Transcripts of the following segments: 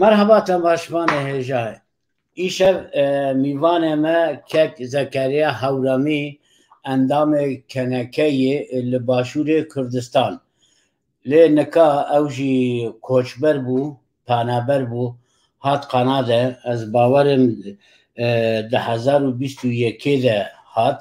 مەرهەباتە باشمانە هێژا ئیشە میوانێ مە کەک زەکەریا هەورامی ئەندامێ کەنەکەی لە باشوورێ کوردستان لێ نەکا ئەوژی کۆچبەر بوو پانابەر بوو هات قەنادە ئەس باوەرم دە هزار و بیست و یەکێدە هات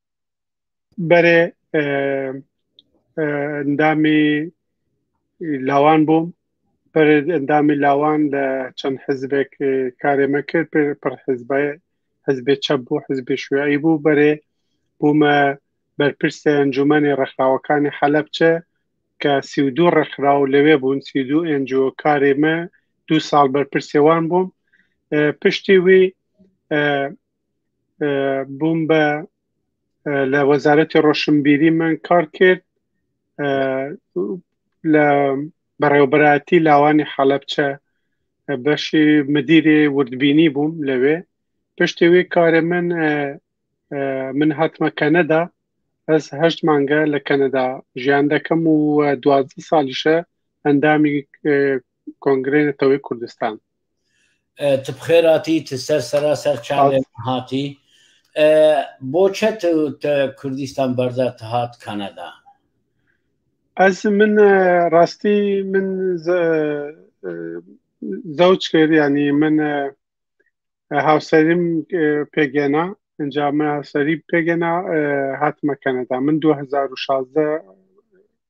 بەێ ئەندامی لاوان بووم بەێ ئەندامی لاوان لە چەند حزبێک کارێمە کرد پێ پر حزبای حزبێ چەپ بوو حزبێ شوێعی بوو بەێ بوومە بەرپرسە ئەنجومەنی ڕێکخراوەکانی حەلبچە کە سی و دوو ڕێکخرا و لەوێ بوون سی دوو ئەنجۆ کارێمە دوو ساڵ بەرپرسێوان بووم پشتی وی بووم بە لە وەزارەتی ڕۆشنبیری من کار کرد لە بەڕێوبەتی لاوانی حەڵەبچە بەشی مدیری وردبینی بووم لەوێ پشتی وی کارێ من من هاتمە کەنەدا ئەس هەشت مانگە لە کەنەدا ژیان دەکەم و دوازدە ساڵیشە ئەندامی کۆنگرەی نەتەوەی کوردستان تبخێراتی تسەر سەرا سەر چاێ هاتی بۆ چە کوردستان بەردا هات کەنەدا ئەس من ڕاستی من زەوج کرد ینی من هاوسەریم پێگەێنا ئەنجامە هاوسەری پێگەنا هاتمە کەنەدا من 2016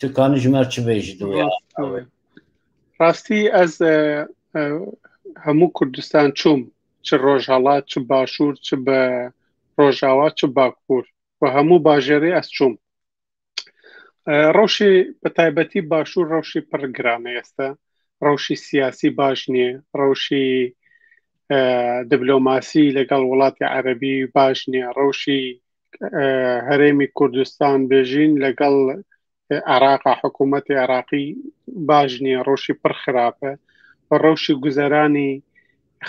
تکانی ژمار چ بێژ ڕاستی ئەز هەموو کوردستان چوم چ ڕۆژهڵات چ باشوور چ بە ڕۆژاوا چ باکوور و هەموو باژێری ئەس چوم ڕەوشی بە تایبەتی باشوور ڕەوشی پڕگرانە ئێستا ڕەوشی سیاسی باش نییە ڕەوشی دبلۆماسی لەگەڵ وڵاتی عەربی باش نییە ڕەوشی هەرێمی کوردستان بێژین لەگەڵ عراقا حکوومەتی عراقی باش نییە ڕۆشی پڕ خراپە و ڕەوشی گوزەرانی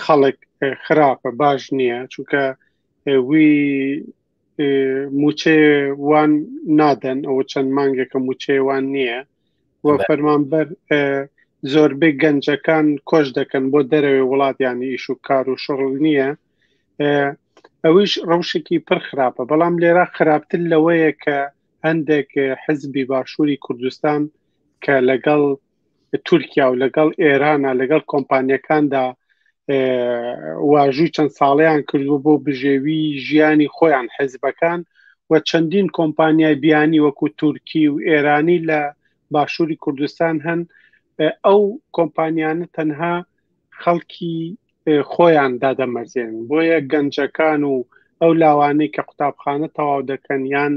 خەڵک خراپە باش نییە چونکە وی موچێ وان نادەن ئەوە چەند مانگێکە موچێوان نییە و فەرمانبەر زۆربەی گەنجەکان کۆش دەکەن بۆ دەرەوەی وڵاتیانی ئیش و کار و شغل نییە ئەویش ڕەوشێکی پڕ خراپە بەڵام لێرا خراپتر لەوەیە کە هەندێک حزبی باشووری کوردستان کە لەگەڵ تورکیا و لەگەڵ ئێرانە لەگەڵ کۆمپانیەکاندا واژووی چەند ساڵیان کردووە بۆ بژێوی ژیانی خۆیان حزبەکان و چەندین کۆمپانیای بیانی وەکو تورکی و ئێرانی لە باشووری کوردستان هەن ئەو کۆمپانیانە تەنها خەڵکی خۆیان دادەمەرزێن بۆیە گەنجەکان و ئەو لاوانەی کە قوتابخانە تەواو دەکەن یان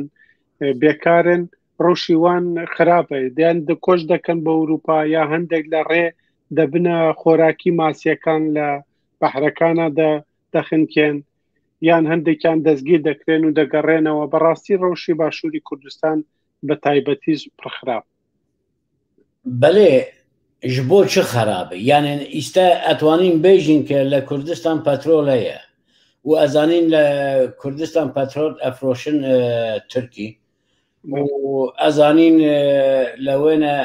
بێکارن ڕوشیوان خراپە دیان دکۆش دەکەن بە ئەوروپا یا هەندێک لە ڕێ دەبنە خۆراکی ماسیەکان لە بەحرەکانە دەخنکێن یان هەندێکیان دەستگیر دەکرێن و دەگەڕێنەوە بەڕاستی ڕەوشی باشووری کوردستان بە تایبەتیش پرخراپ بەلێ ژ بۆ چ خەرابە یانێ ئیستا ئەتوانین بێژین کە لە کوردستان پەترۆل هەیە و ئەزانین لە کوردستان پەترۆل ئەفرۆشن تورکی ئەزانین لە وێنە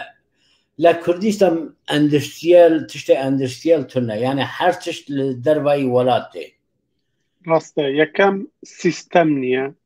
لە کوردستان ئەندستیل تشتە ئەندستیل تونە یانە هەر تشت دەربایی وڵات دێ ڕاستە یەکەم سیستەم نییە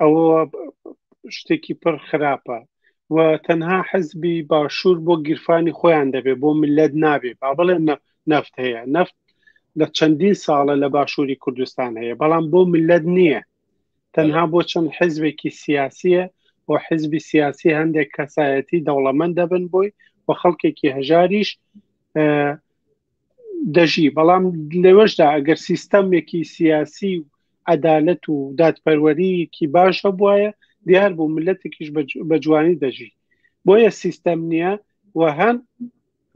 ئەوە شتێکی پڕ خراپە و تەنها حزبی باشوور بۆ گیرفانی خۆیان دەبێ بۆ ملت نابێ با بڵێ نەفت هەیە نەفت لە چەندین ساڵە لە باشووری کوردستان هەیە بەڵام بۆ ملت نییە تەنها بۆ چەند حزبێکی سیاسیە بۆ حزبی سیاسی هەندێک کەسایەتی دەوڵەمەند دەبن بۆی و خەڵکێکی هەژاریش دەژی بەڵام لێوەشدا ئەگەر سیستەمێکی سیاسی و عەدالەت و دادپەروەریکی باش هەبواە دیار بوو ملەتێکیش بە جوانی دەژی بۆیە سیستەم نییە و هەم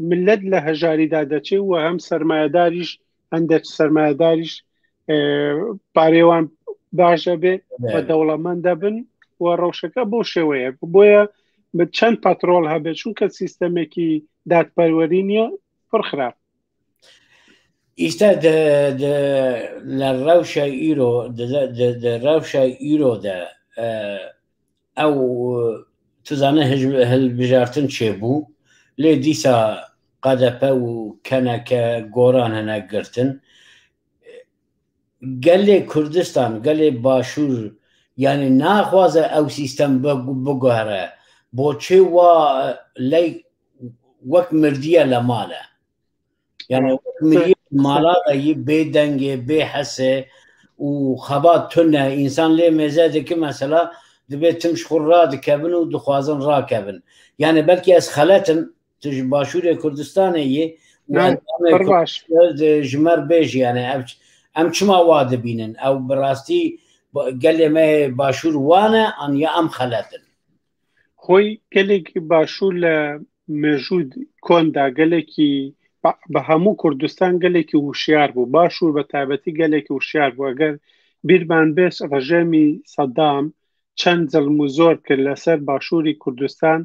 ملت لە هەژاریدا دەچێت و هەم سرمایهداریش هەندێک سرمایهداریش پارێوان باشە بێ بە دەوڵەمەند دەبن و ڕەوشەکە بۆ شێوەیە بۆیە چەند پاترۆل هەبێت چونکە سیستەمێکی دادپەروەری نییە پڕ خراپ ئیستا لە ڕەوشای ئیرۆ ڕەوشە ئیرۆدا ئەو تزانە هەلبژارتن چێ بوو لێ دیسا قەدەپە و کەنەکە گۆران هەنە گرتن گەلێ کوردستان گەلێ باشوور یعنی ناخوازە ئەو سیستەم بگوهرە بۆچێ وا لای وەک مردیە لە مالە یعنی مالا بێ دەنگێ بێ حەسێ و خەبات تونە ئینسان لێ مێزە دەکە مەسەلا دەبێت تمش خۆر ڕا دکەبن و دخوازن ڕاکەبن یعنی بەلکی ئەس خەلەتم تژ باشوورێ کوردستانە یە ژمەر بێژیانە ئەم ئەم چما وا دەبینن ئەو بڕاستی گەلێ مە باشوور وانە ئەنیا ئەم خەلەتن خۆی گەلێکی باشوور لە مێژوود کۆندا گەلێکی بە هەموو کوردستان گەلێکی وشیار بوو باشوور بە تابەتی گەلێکی وشیار بوو ئەگەر بیرمان بێش ڕژێمی سەدام چەند زلم و زۆر کرد لەسەر باشووری کوردستان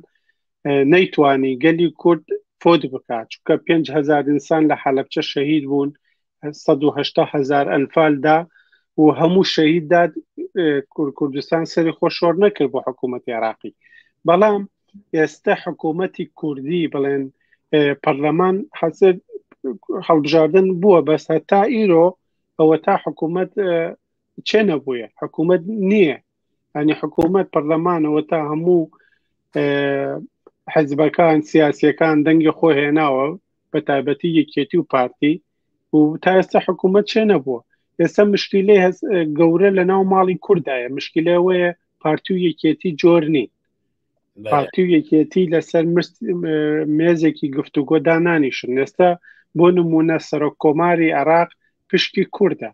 نەیتوانی گەلی کورد فۆت بکات چونکە 5هزار ئینسان لە حەلبچە شەهید بوون سەد و هەشتا هەزار ئەنفال دا و هەموو شەهید داد کوردستان سەری خۆ شۆر نەکرد بۆ حکوومەتی عراقی بەڵام ئێستا حکوومەتی کوردی بڵێن پەرلەمان حەزر هەڵبژاردن بووە بەس هەتا ئیرۆ ئەوە تا حکوومەت چێ نەبووە حکوومەت نییە ینی حکوومەت پەرلەمانەوە تا هەموو حەزبەکان سیاسەکان دەنگی خۆ هێناوە بە تایبەتی یەکێتی و پارتی و تا ئێستا حکوومەت چێ نەبووە ئێستا مشکیلەی هەز گەورە لە ناو ماڵی کوردایە مشکلەوەیە پارتی و یەکێتی جۆر نین پارتی و یەکێتی لەسەر مێزێکی گفتوگۆ دانانیشن ئێستا بۆ نمونە سەرۆک کۆماری عراق پشکی کووردە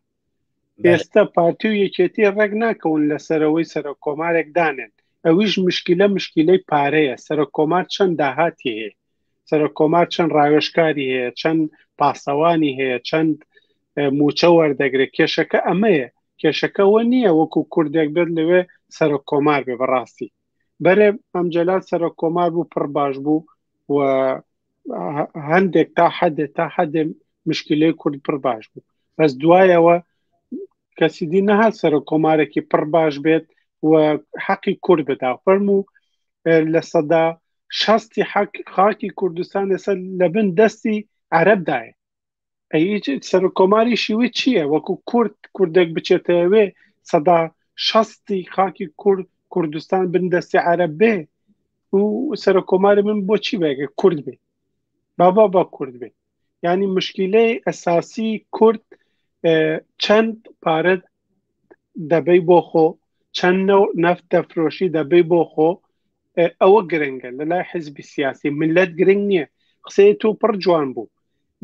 ئێستا پارتی و یەکێتی ڕێک ناکەون لە سەرەوەی سەرە کۆمارێک دانێن ئەویش مشکلە مشکلەی پارەیە سەرە کۆمار چەند داهاتی هەیە سەرە کۆمار چەند ڕاوێشکاری هەیە چەند پاسەوانی هەیە چەند موچە وەردەگرێت کێشەکە ئەمەیە کێشەکەەوە نییە وەکو کوردێک بێت لەوێ سەرە کۆمار بێ بەڕاستی بەێ ئەمجلال سەرۆک کۆمار بوو پڕ باش بوو و هەندێک تا حەدێ تا حەدێ مشکلەی کورد پڕ باش بوو بەس دوایەوە کەسی دی نەها سەرۆک کۆمارێکی پڕ باش بێت و حەقی کورد بدا فەرم و لە سەدا شەستی حەک خاکی کوردستان لەسەر لە بن دەستی عربدایە سەر کۆماری شیوی چییە وەکو کورد کوردێک بچێتەوێ سەدا شەستی خاکی کورد کوردستان بن دەستی عرە بێ و سەر کۆماری من بۆچی بەگە کورد بێ بابا با کورد بێ ینی مشکلەی ئەساسی کورد چەند پارە دەبەی بۆ خۆ چەند نەو نەفت دەفرۆشی دەبەی بۆ خۆ ئەوە گرنگە لە لای حزبی سیاسی ملت گرنگ نییە قسەی تۆ پڕ جوان بوو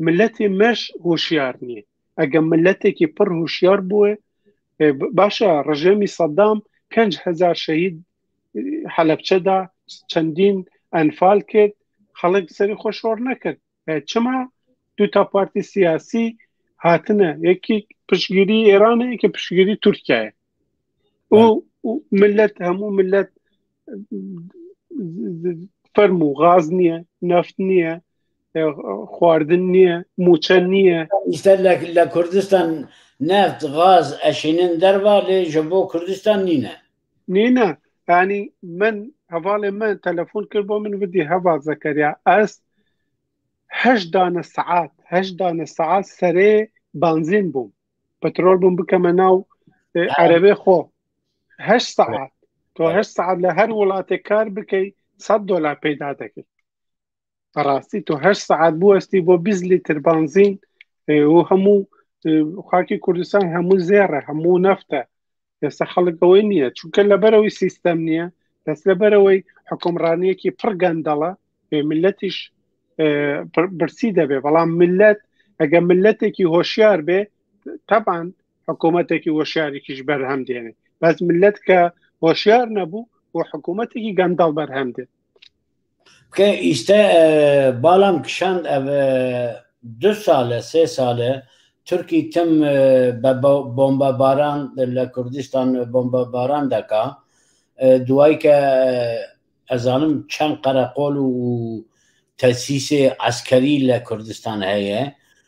ملەتی مەش هوشیار نییە ئەگە ملەتێکی پڕ هوشیار بووێ باشە ڕژێمی سەدام 5هزار شەهید حەلبچەدا چەندین ئەنفال کرد خەڵک سەری خۆشۆڕ نەکرد چما دوو تا پارتی سیاسی هاتنە یەکی پشگیری ئێرانە یەکی پشگیری تورکایە و ملت هەموو ملت فەرم و غاز نییە نفت نییە خواردن نییە موچە نییە ئیستا لە کوردستان نفت غاز ئەشینن دەربا لێژە بۆ کوردستان نینە نینە ینی من هەواڵێ من تەلەفۆن کرد بۆ من ودی هەوا زەکەریا ئەس هەش دانە سعات هەش دانە سعات سەرێ بانزین بووم پترۆل بووم بکەمە ناو عەرەێ خۆ هەش سعات تۆ هەش سعات لە هەر وڵاتێک کار بکەیت سە دۆلار پێدا دەکرد بەڕاستی تۆ هەر سعات بوەستی بۆ بیز لیتر بانزین و هەموو خاکی کوردستان هەموو زێڕە هەموو نەفتە ئێستا خەڵکەوەی نییە چونکە لەبەرەوەی سیستەم نییە دەس لەبەرەوەی حکومڕانیەکی پڕ گەندەڵە ملەتیش برسی دەبێ بەڵام ملت ئەگە ملەتێکی هۆشیار بێ تەبان حکوومەتێکی هۆشیارێکیش بەرهەم دێنێ بەس ملت کە هۆشیار نەبوو و حکوومەتێکی گەندەڵ بەرهەم دێت بکەین ئیستە باڵام کشاند دو ساڵە سێ ساڵە تورکی تم بە بۆمبە باران لە کوردستان بۆمبە باران دەکا دوای کە ئەزانم چەند قەرەقۆل و تەسیسێ عسکەری لە کوردستان هەیە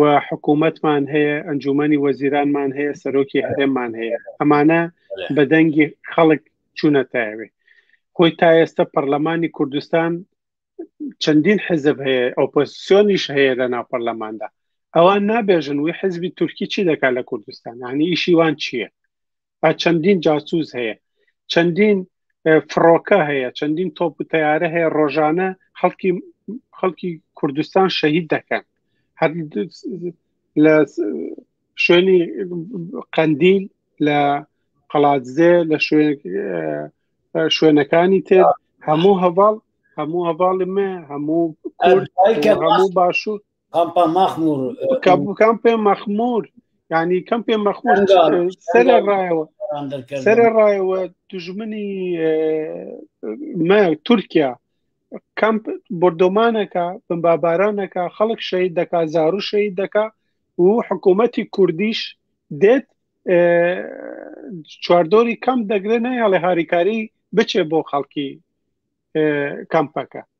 و حکوومەتمان هەیە ئەنجومی وەزیرانمان هەیە سەرۆکی هەرێمان هەیە ئەمانە بە دەنگی خەڵک چوونە تاوێ خۆی تا ئێستا پەرلەمانی کوردستان چەندین حزب هەیە ئۆپۆسیۆنیش هەیە لە ناو پەرلەماندا ئەوان نابێژن وی حزبی تورکی چی دەکات لە کوردستان هەنی ئیشیوان چییە چەندین جاسوز هەیە چەندین فڕۆکە هەیە چەندین تۆپ و تیارە هەیە ڕۆژانە خەڵکی خەڵکی کوردستان شەهید دەکەن هەر لە شوێنی قەندیل لە قەڵاتزێ لە شوێنەکانی تر هەموو هەواڵ هەموو هەواڵی مە هەموو کورد هەموو باشوور کامپا مەخمور کام پێ مەخمور ینی کەم پێ مەخمور سەرە ڕایەوە سەرە ڕایەوە دژمنی مە تورکیا کەمپ بردۆمانەکە بمبابارانەکە خەڵک شەید دەکا زارو شەید دەکا و حکوومەتی کوردیش دێت چواردۆری کەم دەگرێت نەیاڵێ هاریکاری بچێ بۆ خەڵکی کەمپەکە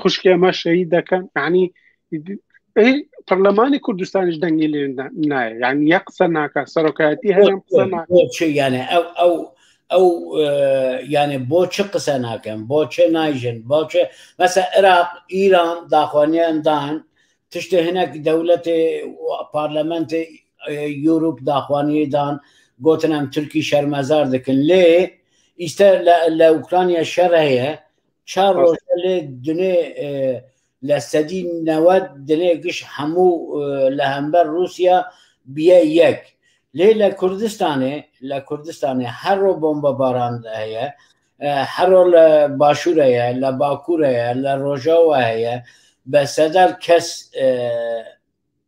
خوشکی ئەمە شەهید دەکەن عنی پەرلەمانی کوردستانیش دەنگی لێ نایە یعنی یە قسە ناکە سەرۆکایەتی هەرم قسە یانە ئەو ئەو ئەو یانێ بۆ چ قسە ناکەن بۆ چێ نایژن بۆ چێ مەسە عێراق ئیران داخوانیان دان تشتێ هەنێک دەولەتێ پارلەمەنتی یورپ داخوانیدان گوتنم تورکی شەرمەزار دەکەن لێ ئیستا لە ئوکرانیا شەر هەیە چار ڕۆژ لێ دنێ لە سەدی نەوە دنێ گشت هەموو لە هەمبەر رووسیا بیە یەک لێ لە کوردستانێ لە کوردستانێ هەرۆ بۆمبە باران هەیە هەرۆ لە باشوورەیە لە باکوورەیە لە ڕۆژەوە هەیە بە سەدار کەس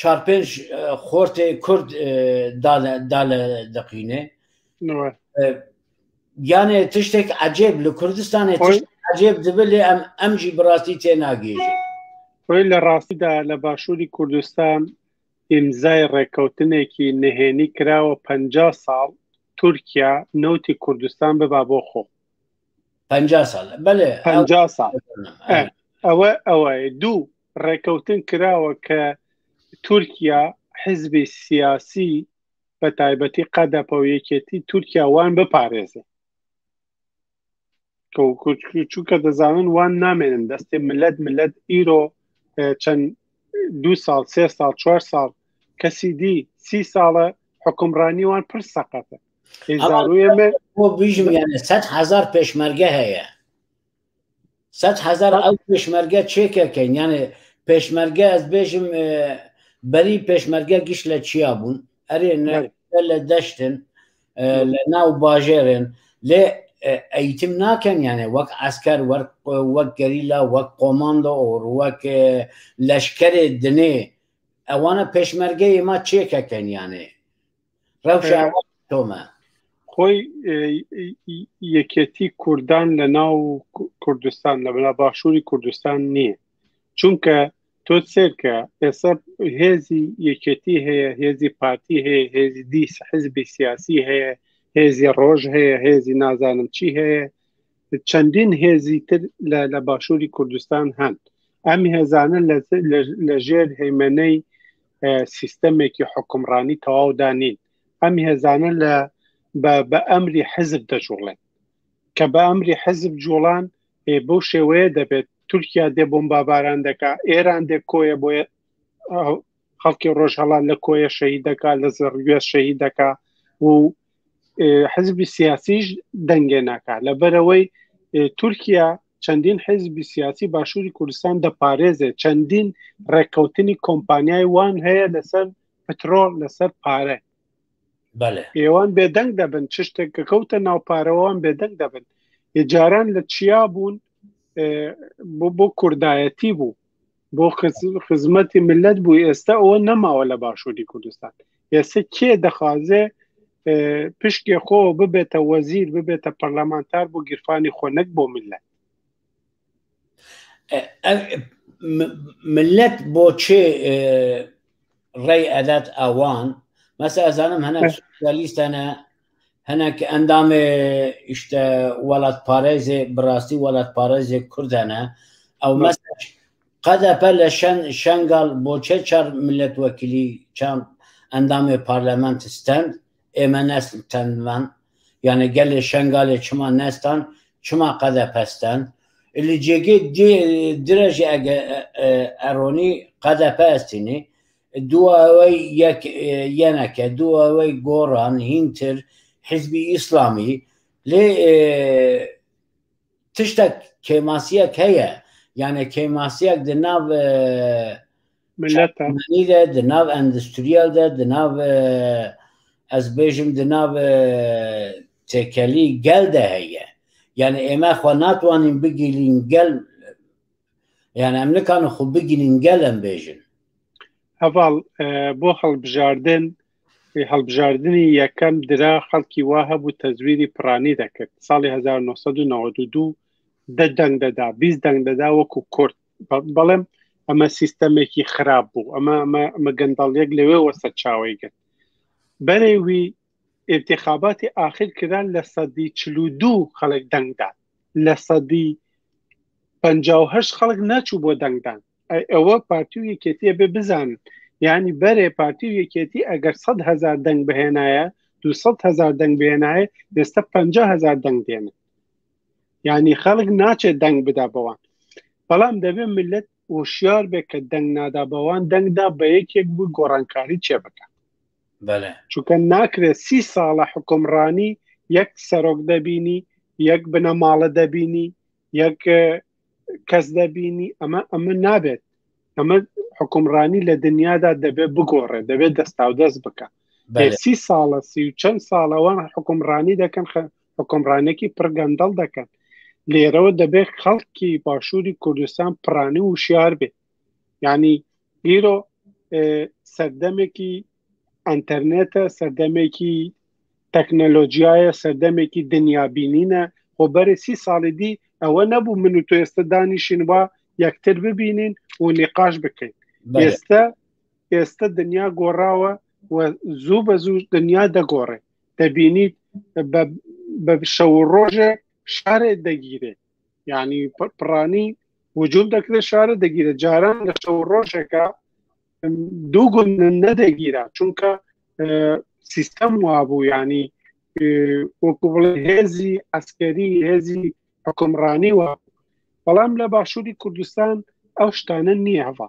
چار پێنج خۆرتێ کورد دالە دەقینێ گیانێ تشتێک عجێب لە کوردستانێ عجێب دەبێ لێ ئەم ئەمجی بڕاستی تێ ناگەێژێ خۆی لە ڕاستیدا لە باشووری کوردستان ئیمزای ڕێککەوتنێکی نهێنی کراوە پ ساڵ تورکیا نەوتی کوردستان ببا بۆ خۆ پ ساڵ بەێ پ ساڵ ئەوە ئەوە دوو ڕێکەوتن کراوە کە تورکیا حزبی سیاسی بە تایبەتی قەدەپە و یەکێتی تورکیا وان بپارێزێ چونکە دەزانن وان نامێنن دەستێ ملەت ملەت ئیرۆ چەند دو ساڵ سێ ساڵ چوار ساڵ کەسی دی سی ساڵە حکمڕانیوان پر سەقەتە هزار هزار پێشمەرگە هەیە سەد هەزار ئەو پێشمەرگە چێکەکەین یانێ پێشمەرگە ئەس بێژم بەری پێشمەرگە گشت لە چیا بوون ئەرێ لە دەشتن لە ناو باژێرێن لێ ئەیتم ناکەن یانێ وەک ئەسکەر وەک گەریلا وەک قۆماندۆ ئۆر وەک لەشکرێ دنێ ئەوانە پێشمەرگەی ما چێکەکەن یانێ تۆمە خۆی یەکێتی کوردان لە ناو کوردستان لە بەلا باشووری کوردستان نییە چونکە تۆ سێرکە ئێستا هێزی یەکێتی هەیە هێزی پارتی هەیە هێزی دیس حزبی سیاسی هەیە هێزی ڕۆژ هەیە هێزی نازانم چی هەیە چەندین هێزی تر لە باشووری کوردستان هەن ئەم هێزانە لە ژێر هەیمەنەی سیستەمێکی حکومڕانی تەواودا نین ئەم هێزانە لە بە ئەمری حزب دەجوڵێن کە بە ئەمری حزب جوڵان بەو شێوەیە دەبێت تورکیا دێ بۆم باباران دەکا ئێران دێ کۆیە بۆ خەڵکی ڕۆژهڵان لە کۆیە شەهید دەکا لە زڕگوێ شەهید دەکا و حزبی سیاسیش دەنگێ ناکات لەبەرەوەی تورکیا چەندین حزبی سیاسی باشووری کوردستان دەپارێزێت چەندین ڕێککەوتنی کۆمپانیای وان هەیە لەسەر پترۆل لەسەر پارە ئێوان بێدەنگ دەبن چ شتێک کە کەوتە ناوپارەوەوان بێدەنگ دەبن جاران لە چیا بوون بۆ کوردایەتی بوو بۆ خزمەتی ملت بوو ئێستا ئەوە نەماوە لە باشووری کوردستان ئێستا کێ دەخوازێ پشکێ خۆ ببێتە وەزیر ببێتە پەرلەمانتار بۆ گیرفانی خۆ نەک بۆ ملت ملت بۆ چێ ڕێی ئەدات ئاوان مەسە ئەزانم هەنا لیستانە هەناک ئەندامێ ئیشتە وەلات پارێزێ بڕاستی وەلات پارێزێ کوردانە ئەو مەسەج قەدەپە لە شەن شەنگال بۆچێ چار ملەت وەکیلی چام ئەندامێ پارلەمانت ستەند ئێمە نەسل تەندمان یانە گەلێ شەنگالێ چما نەستان چما قەدە پەستان اللي جێگەی درێژی ئەگە ئەرۆنی قەدەپە ئەستینی دواوەی یەک یەنەکە دواوەی گۆڕان هینتر حزبی ئیسلامی لێ تشتێک کێماسیەک هەیە یانە کێماسیەک دە ناو ملەتنیدا دە ناو ئەندستریالدا دە ناو ئەس بێژم دە ناو تێکەلی گەلدا هەیە یانە ئێمە خۆ ناتوانین بگیرین گەل یان ئەمنەکانە خۆ بگرین گەلم بێژن هەواڵ بۆ هەڵبژاردن هەڵبژاردننی یەکەم درا خەڵکی وا هەبوو تەزویری پرانی دەکرد ساڵی 1992 دە دەنگ دەدا بیست دەنگ دەدا وەکو کورد بەڵێم ئەمە سیستەمێکی خراپ بوو ئەمە ئەمە گەندەڵیەک لەوێ وەسەر چاوی گرت بەرەوی ئینتیخاباتی ئاخیر کران لە سەدی چل و دوو خەڵک دەنگدان لە سەدی پ خەڵک نەچوو بۆ دەنگدان ئەوە پارتی و یەکێتیە بێ بزان ینی بەرێ پارتی و یەکێتی ئەگەر سەد هزار دەنگ بهێنایە دو هزار دەنگ بێنایە ئێستا پ هزار دەنگ دێنن ینی خەڵک ناچێت دەنگ بدا بەوان بەڵام دەبێت ملت وشیار بێت کە دەنگ نادا بەوان دەنگدا بە یەکێک بوو گۆڕانکاری چێ بکە چونکە ناکرێت سی ساڵە حکومڕانی یەک سەرۆک دەبینی یەک بنەماڵە دەبینی یەک کەس دەبینی ئەمە ئەمە نابێت ئەمە حکومڕانی لە دنیادا دەبێت بگۆڕێت دەبێت دەستا و دەست بکە سی ساڵە سی و چەند ساڵەوان حکومڕانی دەکەن حکومڕانێکی پرگەندەڵ دەکەن لێرەوە دەبێت خەڵکی باشووری کوردستان پرانی وشیار بێت یعنی ئیرۆ سەردەمێکی ئەتەرنێتە سەردەمێکی تەکنەلۆژیایە سەردەمێکی دنیابینینە خۆ بەرە سی ساڵی دی ئەوە نەبوو من و تۆ ئێستا دانیشین وە یەکتر ببینین و نقاش بکەین ئێستا ئێستا دنیا گۆڕاوە و زوو بە زوو دنیا دەگۆڕێ دەبینیت بە شەو ڕۆژێ شارێ دەگیرێت یعنی پڕانی وجود دەکرێت شارە دەگیرە جاران لە شەو ڕۆژێکە دوو گوند نەدەگیرا چونکە سیستەم وابوو ینی وەکو بڵێ هێزی ئەسکەری هێزی حکومڕانی وە بەڵام لە باشووری کوردستان ئەو شتانە نییەوە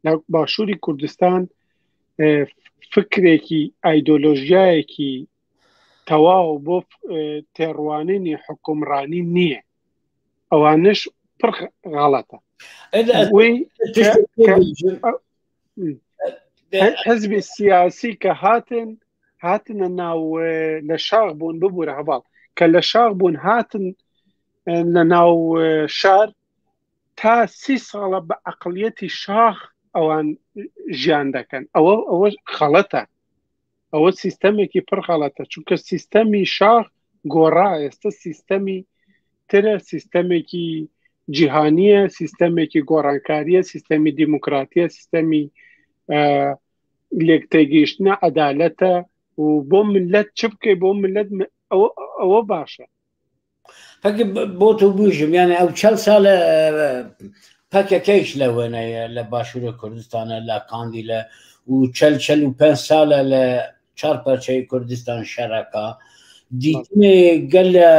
لە باشووری کوردستان فکرێکی ئایدۆلۆژیایەکی تەواو بۆ تێڕوانینی حکومڕانی نییە ئەوانش پڕ غاڵەتە حزبی سیاسی کە هاتن هاتنە ناو لە شاخ بوون ببوورە هەواڵ کە لە شاخ بوون هاتن لە ناو شار تا سی ساڵە بە عقلیەتی شاخ ئەوان ژیان دەکەن ئەوە ئەوە خەڵەتە ئەوە سیستەمێکی پڕ خەڵەتە چونکە سیستەمی شاخ گۆڕا ئێستا سیستەمی ترە سیستەمێکی جیهانیە سیستەمێکی گۆڕانکاریە سیستەمی دیموکراتیە سیستەمی لێکتێگەیشتە عەدالەتە و بۆ ملت چ بکەی بۆ ملت ئەوە باشە پەکە بۆ تۆ بژم یانە ئەو چەل ساڵە پەکەکەیش لە وێنەیە لە باشوورە کوردستانە لە کاندی لە و چەل چەل و پێ ساڵە لە چار پەرچەی کوردستان شەرەکە دیتنێ گەل لە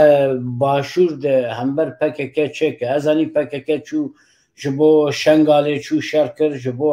باشوور هەمبەر پەکەکە چێکە ئەزانی پەکەکە چوو ji بۆ شنگالێ چوو شەر کرد ji بۆ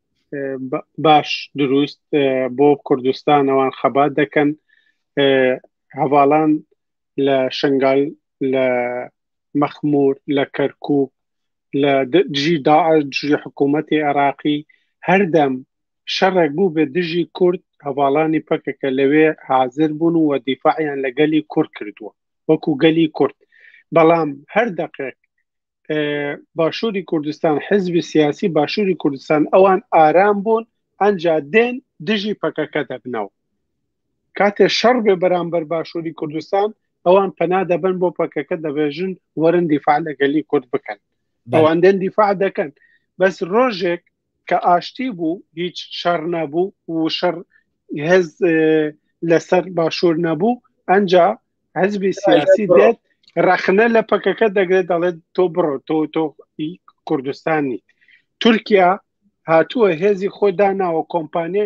باش دروست بۆ کوردستان ئەوان خەبات دەکەن هەواڵان لە شنگال لە مەخمور لە کەرکک لە دژی داعش دژی حکوومەتی عێراقی هەردەم شەڕێک بوو بە دژی کورد هەواڵانی پەکەکە لەوێ حاضر بوون و دیفاعیان لە گەلی کورد کردووە وەکو گەلی کورد بەڵام هەر دەقێک باشووری کوردستان حزبی سیاسی باشووری کوردستان ئەوان ئارام بوون ئەجا دێن دژی پەکەکە دەبنەوە کاتێ شەڕ بێ بەرامبەر باشووری کوردستان ئەوان پەنا دەبن بۆ پەکەکە دەبێژن وەرن دیفاع لەگەلی کورد بکەن ئەوان دێن دیفاع دەکەن بەس ڕۆژێک کە ئاشتی بوو هیچ شەڕ نەبوو و شەڕ هێز لەسەر باشوور نەبوو ئەجا حزبی سیاسی دێت ڕەخنە لە پەکەکە دەگرێت دەڵێت تۆ بڕۆ تۆ تۆ کوردستانی تورکیا هاتووە هێزی خۆی داناوە کۆمپانیە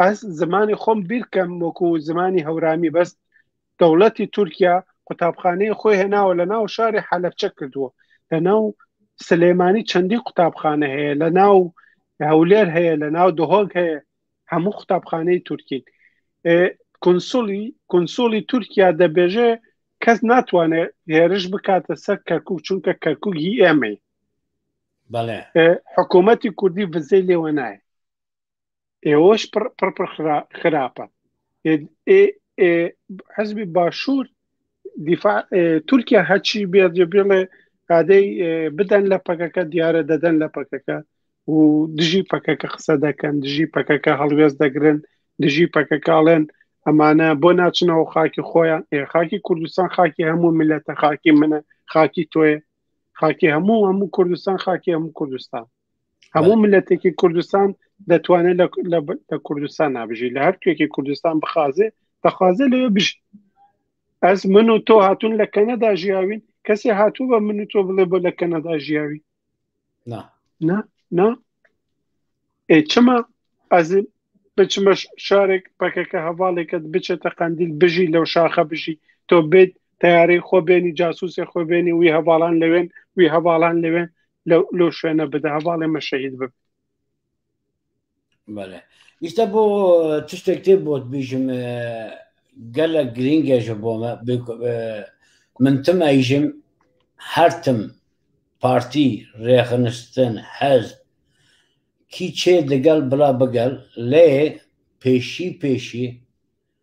ئەس زمانی خۆم بیرکەم وەکو زمانی هەورامی بەست دەوڵەتی تورکیا قوتابخانەی خۆی هێناوە لە ناو شاری حەلەفچە کردووە لە ناو سلێمانی چەندی قوتابخانە هەیە لە ناو هەولێر هەیە لە ناو دهۆک هەیە هەموو قوتابخانەی تورکین کنسولی کنسولی تورکیا دەبێژێ کەس ناتوانێت هێرش بکاتە سەر کەرکک چونکە کەرکک هی ئێمەی حکوومەتی کوردی بزەی لێوە نایە ئێوەش پڕ پڕ خراپە حزبی باشوور دیفاع تورکیا هەچی بێت بڵێ ئادەی بدەن لە پەکەکە دیارە دەدەن لە پەکەکە و دژی پەکەکە قسە دەکەن دژی پەکەکە هەڵوێز دەگرن دژی پەکەکاڵێن ئەمانە بۆ ناچنەوە خاکی خۆیان خاکی کوردستان خاکی هەموو ملەتە خاکی منە خاکی تۆێ خاکی هەموو هەموو کوردستان خاکی هەموو کوردستان هەموو ملەتێکی کوردستان دەتوانێت لە کوردستان نابژی لە هەر توێکی کوردستان بخازێ دەخوازێ لەوێ بژی ئەس من و تۆ هاتون لە کەنەدا ژیاوین کەسی هاتوو بە من و تۆ بڵێ بۆ لە کەنەدا ژیاوی نا چما ئەز بچمە شارێک پەکەکە هەواڵێکت بچێتە قندیل بژی لەو شاخە بژی تۆ بێت تیارەی خۆ بێنی جاسوسێ خۆ بێنی وی هەواڵان لەوێن وی هەواڵان لەوێن لەو شوێنە بدە هەواڵێ مە شەهید بب بەێ ئیستا بۆ تشتێک تێ بۆت بیژم گەلە گرنگێژە بۆمە من تم ئەیژم هەرتم پارتی ڕێخنستن حەز کی چێ دەگەل بلا بگەل لێ پێشی پێشی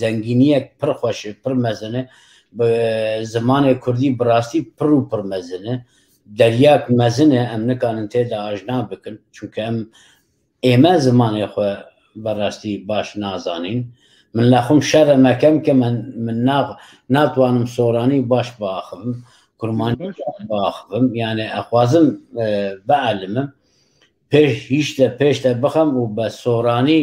زەنگینیەک پڕ خۆشێ پڕ مەزنە زمانێک کوردی بڕاستی پڕ و پڕ مەزنە دەریاک مەزنە ئەم نکانن تێدا ئاژنا بکن چونکە ئەم ئێمە زمانێ خۆ بەڕاستی باش نازانین من لە خۆم شەرە مەکەم کە من من ناغ ناتوانم سۆرانی باش باخم کورمانی باخم یانە ئەخوازم بەعلمم پێش هیچتە پێشتە بخەم و بە سۆرانی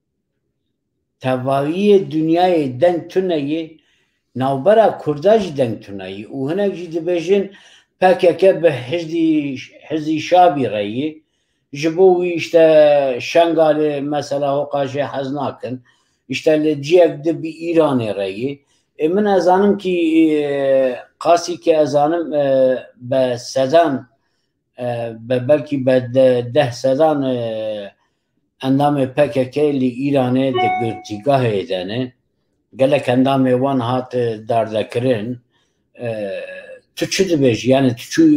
تەڤاوییە دنیایێ دەنگ تونە یێ، ناوبرا کوردا ژی دەنگ تونە یێ ئوو هنەک ژی دبێژن پەکەکە بە حزی شابی رە یێ، ژ بۆ وی شتە شەنگالێ مەسەلا هۆقاژێ حەز ناکن، شتە لە جیەک دب ئیرانێ رە یێ. ئێ من ئەزانم کی قاسی کە ئەزانم بە سەدان بە بەلکی بە دە سەدان ئەندامێ پەکەکە لی ئیرانێ دە گرتیگاهێ دەێ، گەلەک ئەندامێ وان هات داردەکرن تو چ دبێژی یانە تو چوو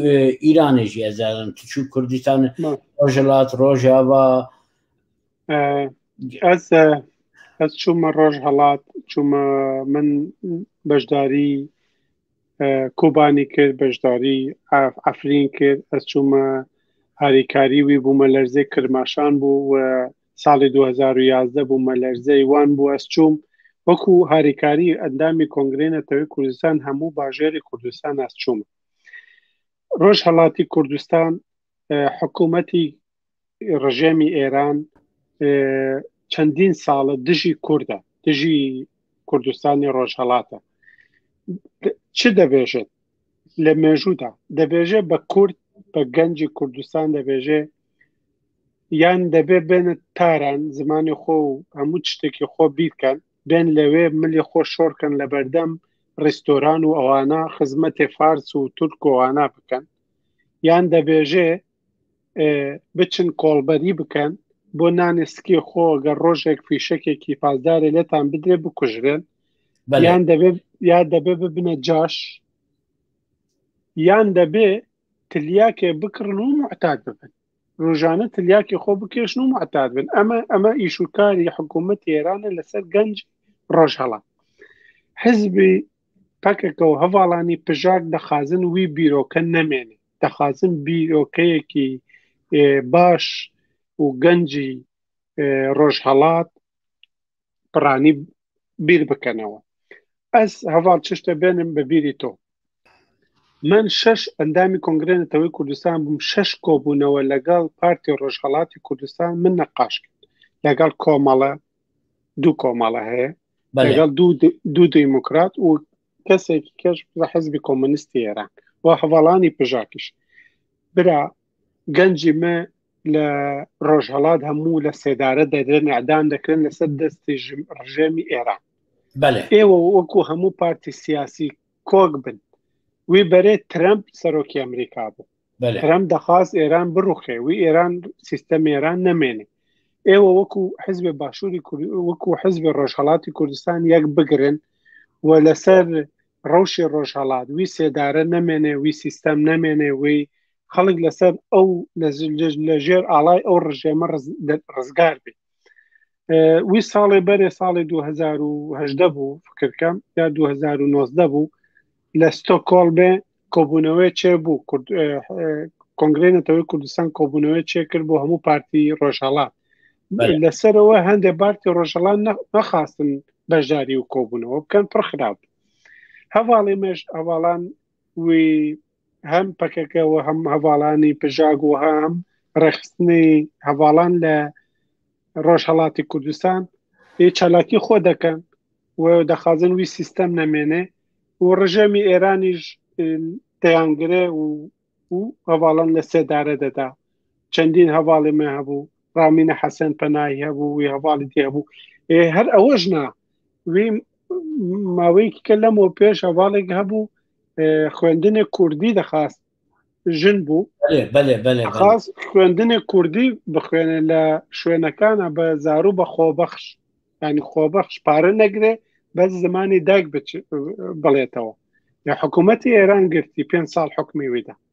ئیرانێژی ئەزارن تو چوو کوردستان ڕۆژلات ڕۆژاوا ئەس ئەس چوومە ڕۆژ هەڵات چوومە من بەشداری کوبانی کرد بەشداری ئەفرین کرد ئەچوومە هاریکاری وی بوومە لەرزێ کرماشان بوو و ساڵی 2011 بوومە لەرزەی وان بوو ئەسچوم وەکو هاریکاری ئەندامی کۆنگری نەتەوەی کوردستان هەموو باژێری کوردستان ئەسچوم ڕۆژ هەڵاتی کوردستان حکوومەتی ڕژێمی ئێران چەندین ساڵە دژی کووردە دژی کوردستانی ڕۆژهڵاتە چ دەبێژێت لە مێژوودا دەبێژێ بە کورد بە گەنجی کوردستان دەبێژێ یان دەبێ بێنە تاران زمانی خۆ و هەموو شتێکی خۆ بیرکەن بێن لەوێ ملی خۆ شۆرکەن لە بەردەم ڕیستۆران و ئەوانە خزمەتێ فارس و تورکۆوانە بکەن یان دەبێژێ بچن کۆڵبەری بکەن بۆ نانێ سکی خۆ گەر ڕۆژێک فیشەکێکی پازدارێ لێتان بدرێ بکوژرێن یان دەبێ یا دەبێ ببنە جاش یان دەبێ تلیاکێ بکڕن و معتاد ببن ڕژانە تلیاکی خۆ بکێشن و معتاد بن ئەمە ئەمە ئیشوکاری حکوومەت ئێرانە لەسەر گەنج ڕۆژهڵات حزبی پەکەکە و هەواڵانی پژاک دەخازن وی بیرۆکە نەمێنێ دەخوازم بیرۆکەیەکی باش و گەنجی ڕۆژهەڵات پڕانی بیر بکەنەوە ئەس هەواڵ چشتە بێنم بە بیری تۆ من شش ئەندامی کۆنگرێنەتەوەی کوردستان بووم شش کۆبوونەوە لەگەڵ پارتی ڕۆژهڵاتی کوردستان من نەقاش کرد لەگەڵ کۆمەڵە دوو کۆمەڵە هەیە لەگەڵ دوو دیموکرات و کەسێکی کەش لە حزبی کۆمەنیستی ئێران و هەواڵانی پژاکیش برا گەنجی مە لە ڕۆژهڵات هەموو لە سێدارە دەدرێن ئەدان دەکرێن لەسەر دەستی ڕژێمی ئێران ئێوە وەکو هەموو پارتی سیاسی کۆک بن وی بەرێ ترەمپ سەرۆکی ئەمریکا بوو ترەمپ دەخواست ئێران بڕوخێ وی ئێران سیستەم ئێران نەمێنێ ئێوە وەکو حزبێ باشووری وەکو حزبێ ڕۆژهڵاتی کوردستان یەک بگرن و لەسەر ڕەوشی ڕۆژهڵات وی سێدارە نەمێنێ وی سیستەم نەمێنێ وی خەڵک لەسەر ئەو لە ژێر ئاڵای ئەو ڕژێمە ڕزگار بێت وی ساڵێ بەرێ ساڵی 2010 بوو فکرکەم یا 2009 بوو لە ستۆکۆڵبێ کۆبوونەوەی چێ بوو کۆنگرێ نەتەوەی کوردستان کۆبوونەوەی چێ کرد بۆ هەموو پارتی ڕۆژهڵات لەسەرەوە هەندێک بارتی ڕۆژەڵان نەخواستن بەشداری و کۆبوونەوە بکەن پڕخراپ هەواڵی مێش ئەواڵان وی هەم پەکەکە و هەم هەواڵانی پژاک و هەم ڕێخستنی هەواڵان لە ڕۆژهڵاتی کوردستان ی چالاکی خۆ دەکەن و دەخوازن وی سیستەم نەمێنێ و ڕژێمی ئێرانیش دەیانگرێ و و هەواڵان لە سێدارە دەدا چەندین هەواڵی مە هەبوو ڕامینە حەسەن پەناهی هەبوو وی هەواڵی دی هەبوو هەر ئەوەش نا وی ماوەیەکی کە لەمەوە پێش هەواڵێک هەبوو خوێندنێک کوردی دەخواست ژن بوو خاست خوێندنێک کوردی بخوێنێ لە شوێنەکانە بە زارو بە خۆبەخش ینی خۆبەخش پارە نەگرێ بەس زمانی دایک بڵێتەوە یا حکوومەتتی ئێران گرتی پێ ساڵ حکمی ویدا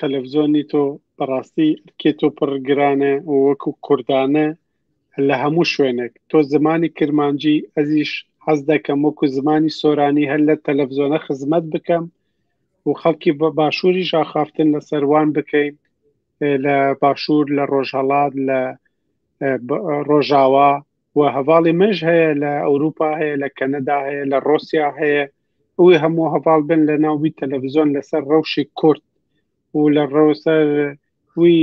تەلەفزۆنی تۆ بەڕاستی کێ تۆ پڕ گرانە وەکو کوردانە لە هەموو شوێنێک تۆ زمانی کرمانجی ئەزیش حەز دەکەم وەکو زمانی سۆرانی هەر لە تەلەڤزۆنە خزمەت بکەم و خەڵکی بە باشووری ژاخافتن لە سەروان بکەین لە باشوور لە ڕۆژهڵات لە ڕۆژاوا و هەواڵی منش هەیە لە ئەوروپا هەیە لە کەنەدا هەیە لە ڕۆسیا هەیە ئەوی هەموو هەواڵ بن لە ناوی تەلەڤزیۆن لەسەر ڕەوشی کورد و لە ڕەوسەر وی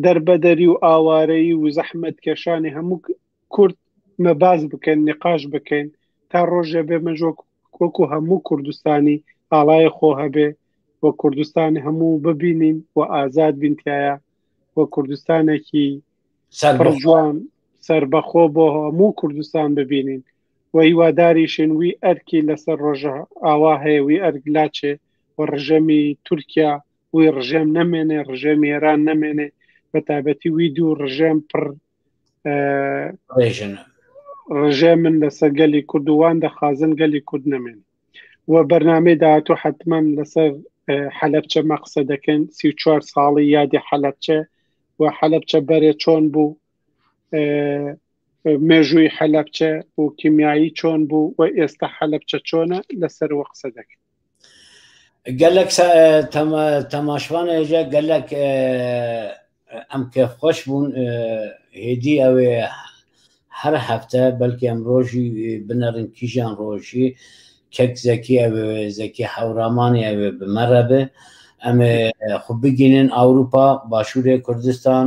دەربەدەری و ئاوارەی و زەحمەت کێشانی هەموو کورد مەباز بکەن نقاش بکەین تا ڕۆژێ بێ مەژۆک وەکو هەموو کوردستانی ئاڵای خۆ هەبێ و کوردستانی هەموو ببینین و ئازاد بینتایە و کوردستانێکی سەرجوان سربەخۆ بۆ هەموو کوردستان ببینین و هیواداریشین وی ئەرکی لەسەر ڕۆژئاوا هەیە، وی ئەرک لاچێ و ڕژێمی تورکیا وی ڕژێم نەمێنێ، ڕژێمی ئێران نەمێنێ، بەتابەتی وی دوو ڕژێم پڕ ڕژێمن لەسەر گەلی کوردوان دەخوازن گەلی کورد نەمێن و بەرنمەی داهاتۆ حتمما لەسەر حەلبچە مەقسە دەکەن سی چوار ساڵی یادی حەلبچە و حەلبچە بەرێ چۆن بوو مێژووی حەلەبچە و کیمیایی چۆن بوو و ئێستا حەلەبچە چۆنە لەسەر وە قسە دەکەن گەلک تەماشوان ێژە گەلک ئەم کە خۆش بوون هێدی ئەوێ هەر هەفتە بەلکی ئەم ڕۆژی بنەڕن کیژان ڕۆژی کەک زەکی ئەوێ زەکی حەورامانی ئەوێ بمەڕە بێ ئەمێ خو بگینن ئەوروپا باشوورێ کوردستان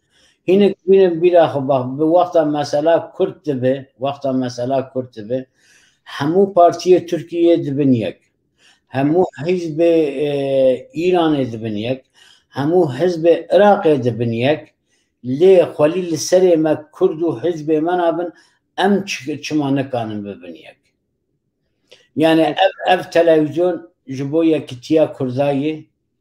هینێک بینە بیرا خۆ باخ وەختە مەسەلا کورت دەبێ وەختە مەسەلا کورت دەبێ هەموو پارتیە تورکیە دبن یەک هەموو حیزب ئیرانێ دبن یەک هەموو حزب عراقێ دبن یەک لێ خۆلی لە سەرێ مە کورد و حزبێ مەنابن ئەم چمانەکانم ببن یەک یانە ئەف تەلەویزیۆن ji بۆ یەکتیا کوردایی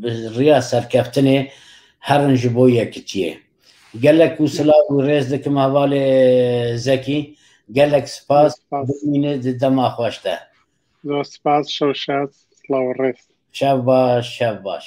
بڕیا سەرکەفتنێ هەڕنژ بۆ یەکتیێ گەلەک و سلااو و ڕێز دکم هەواڵێ زەکی گەلەک سپاس دەماخۆشتە زۆر سپاس شەو شاد سلااو ڕێز شەو باش شەو باش